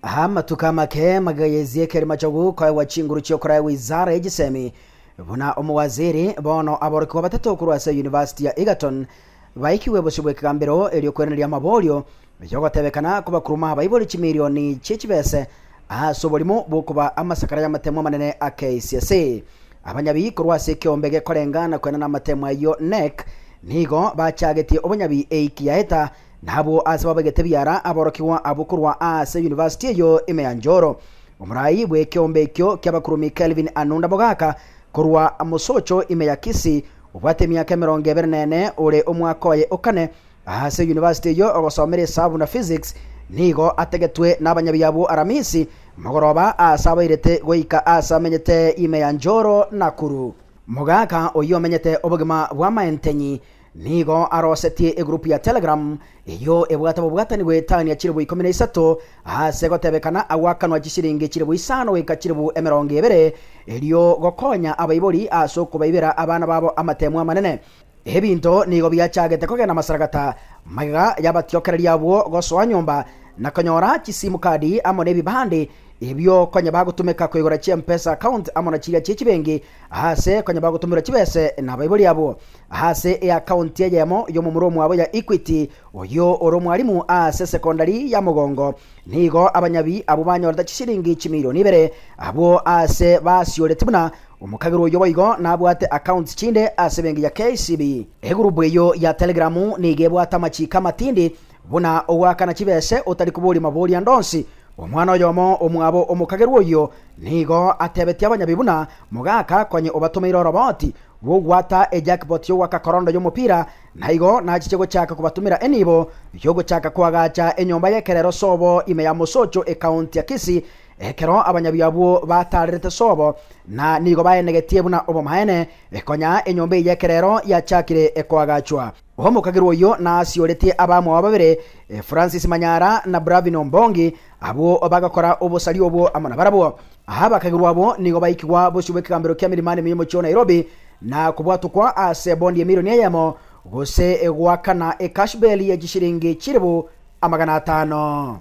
Amatuko amake magayezieka rimachogu koegwa chinguru chi'okoraegwa Izara y'Echisemi. Buna omowaziri, bono aborokigwa batato korwa ase Yunivasiti ya Egerton baikigwe bosio bw'ekegambero egi'okweraneria amaborio y'ogotebekana kobakuruma abaibori chimilioni chi'echibese ase oborimo bw'okoba amasakara y'amatemo amanene a KCSE. Abanyabi korwa ase ekeombe gekorenga na kwenana amatemo ayio, Knec, nigo bachagetie obonyabi eiki yaeta Na abwo aase babegete biara aborokigwa abwo korwa aase yunivasiti eyo ime ya Njoro. Omorai bw'ekeombe ekio ki'abakurubi Kelvin Anunda Mogaka korwa Mosocho ime ya Kisii obwate emiaka emerongo ebere na ene ore omwaka oye o kane aase yunivasiti eyo ogosomera esabu na physics nigo ategetwe n'abanyabiya abwo Aramisi mogoroba aase abairete goika aase amenyete ime ya Njoro Nakuru. Mogaka oyio omenyete obogima bw'amaentenyi Nigo arosetie egurupu ya Telegram, eyio ebwate obobwatani bw'etani ya chilibu ikomi na isato, ase gotebekana agwakanwa chisiringi chilibu isano goika chilibu emerongo ebere, erio gokonya abaibori ase okobaibera abana babo amatemu amanene. Ebinto nigo biachagete kogenda amasaragata, magega y'abatiokereri abwo gosoa nyomba, na konyora chisimu kadi amo n'ebibande, ebio konya bagotumeka koigora chi'M-pesa account amo na chiria chie chibenki ase konya bagotumirwa chibese nabaibori abwo. Aase eakaonti eyemo y'omomura omwabo ya Equity, oyio ore omwalimu aase esekondari ya Mogongo, nigo abanyabi abwo banyorete chisiringi chimilioni ibere. Abwo aase basioreti buna omokagerwa oyio boigo nabwate accounts chinde ase ebenki ya KCB. Egurupu eyio ya Telegram nigo ebwate amachiiko amatindi buna ogoakana chibese otari koboria mabori ande onsi. Omwana oyomo omwabo omokagerwa oyio nigo atebetie abanyabi buna, Mogaaka, konye obatomeire oroboti, bw'ogwata ejakpoti y'ogw'akakorondo y'omopira, na igo nachiche gochaka kobatumera enibo y'ogochaka koagacha enyomba y'ekerero sobo ime ya Mosocho ekaonti ya Kisii, ekero abanyabio abwo bataarerete sobo na nigo baenegetie buna obomaene, konya enyomba eye y'ekerero yachakire koagachwa. Omokagerwa oyio nasioretie abamwao babere, Francis Manyara na Bravin Ombongi, abwo bagakora obosaria obwo amo nabarabwo. Abakagerwa abwo nigo baikigwa bosio bw'ekegambero kia Milimani Miyemo chio Nairobi, na kobwatokwa ase bondi emirioni eyemo, gose goakana ekashbeli ye chishiringi chilifu amagana atano.